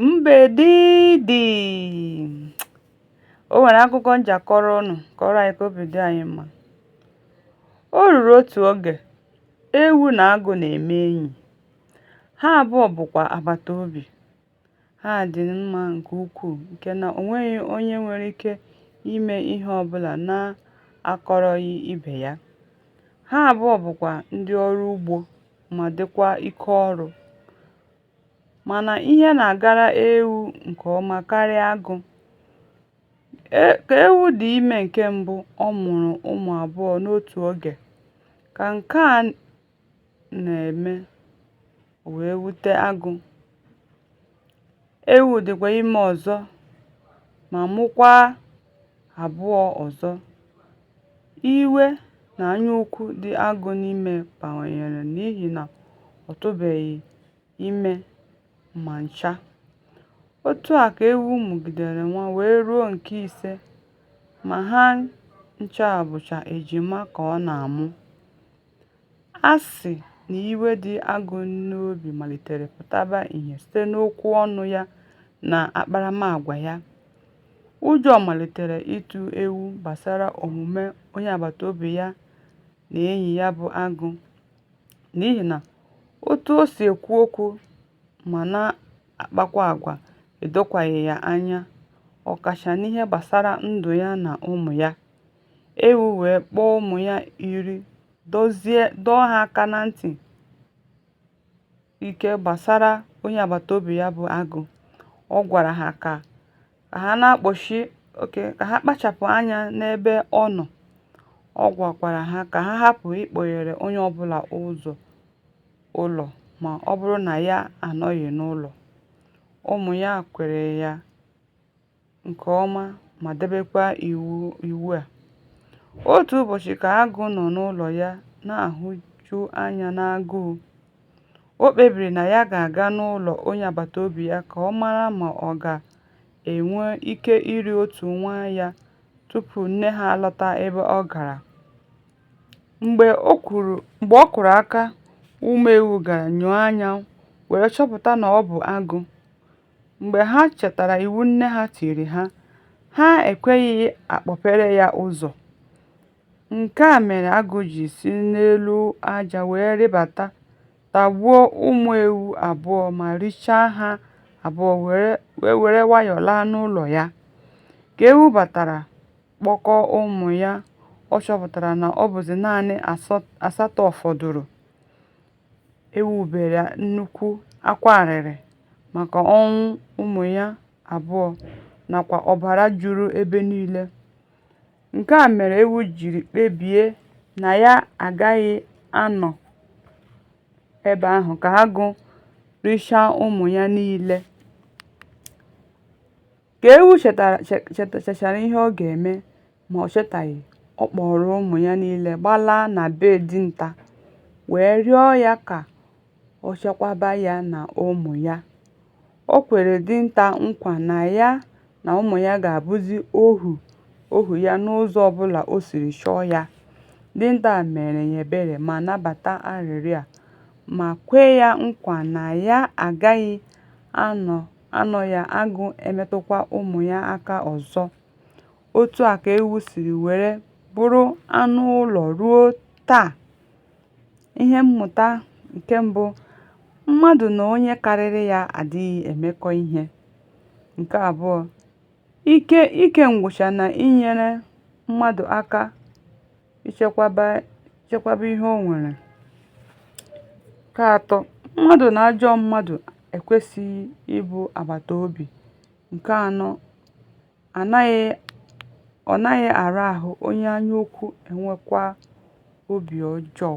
Mbe dị dị. O nwere akụkọ m ji akọrọ unu kọọrọ anyị ka obi dị anyị mma. O ruru otu oge, ewu na agụ na-eme enyi. Ha abụọ bụkwa agbata obi. Ha dị mma nke ukwuu nke na o nweghị onye nwere ike ime ihe ọbụla na-akọrọghị ibe ya. Ha abụọ bụkwa ndị ọrụ ugbo ma dịkwa ike ọrụ. Mana ihe na-agara ewu nke ọma karịa agụ. Ka ewu dị ime nke mbụ ọ mụrụ ụmụ abụọ n'otu oge. Ka nke a na-eme, o wee wute agụ. Ewu dịkwa ime ọzọ ma mụkwaa. abụọ ọzọ, iwe na anyaukwu dị agụ n'ime bawanyere n'ihi na ọ tụbeghị ime ma ncha, otu a ka ewu mụgidere nwa wee ruo nke ise, ma ha ncha bụcha ejima ka ọ na-amụ. A sị na iwe dị agụ n'obi malitere pụtaba ihe site n'okwu ọnụ ya na akparamagwa ya, ụjọ malitere ịtụ ewu gbasara omume onye agbataobi ya na enyi ya bụ agụ n'ihi na otu o si ekwu okwu ma na-akpakwa agwa edokwaghị ya anya, ọkacha n'ihe gbasara ndụ ya na ụmụ ya. Ewu wee kpọọ ụmụ ya iri dọọ ha aka na ntị ike gbasara onye agbata obi ya bụ agụ. Ọ gwara ha ka ha na-akpọchi okay ka ha kpachapụ anya n'ebe ọ nọ. Ọ gwakwara ha ka ha hapụ ịkpọghere onye ọbụla ụzọ ụlọ ma ọ bụrụ na ya anọghị n'ụlọ. Ụmụ ya kwere ya. nke ọma ma debekwa iwu a. Otu ụbọchị ka agụ nọ n'ụlọ ya na-ahụju anya n'agụụ, o kpebiri na ya ga-aga n'ụlọ onye agbata obi ya ka ọ mara ma ọ ga-enwe ike iri otu nwa ya tupu nne ha alọta ebe ọ gara. Mgbe ọ kụrụ aka, ụmụ ewu gara nyoo anya wee chọpụta na ọ bụ agụ. Mgbe ha chetara iwu nne ha tiri ha, ha ekweghị akpọpere ya ụzọ. Nke a mere agụ ji si n'elu aja wee rịdata, tagbuo ụmụ ewu abụọ ma richaa ha abụọ wee were nwayọọ laa n'ụlọ ya. Ka ewu batara kpọkọọ ụmụ ya, ọ chọpụtara na ọ bụzị naanị asatọ fọdụrụ. ewu bere nnukwu akwa arịrị maka ọnwụ ụmụ ya abụọ nakwa ọbara juru ebe niile, nke a mere ewu jiri kpebie na ya agaghị anọ ebe ahụ ka agụ richaa ụmụ ya niile. Ka ewu chechara ihe ọ ga-eme, Ma o chetaghị, ọ kpọọrọ ụmụ ya niile gbalaa na be dinta wee rịọ ya ka o chekwaba ya na ụmụ ya. O kwere dinta nkwa na ya na ụmụ ya ga-abụzị ohu ohu ya n'ụzọ ọbụla o siri chọọ ya. Dinta meere ya ebere ma nabata arịrịọ a, ma kwe ya nkwa na ya agaghị anọ ya agụ emetụkwa ụmụ ya aka ọzọ. Otu a ka ewu siri were bụrụ anụ ụlọ ruo taa. Ihe mmụta nke mbụ, mmadụ na onye karịrị ya adịghị emekọ ihe. Nke abụọ, ike nkwụcha na-enyere mmadụ aka ichekwaba ihe o nwere. Nke atọ, mmadụ na ajọ mmadụ ekwesịghị ịbụ agbataobi. Nke anọ ọ naghị ara ahụ onye anyaukwu enwekwa obi ọjọọ.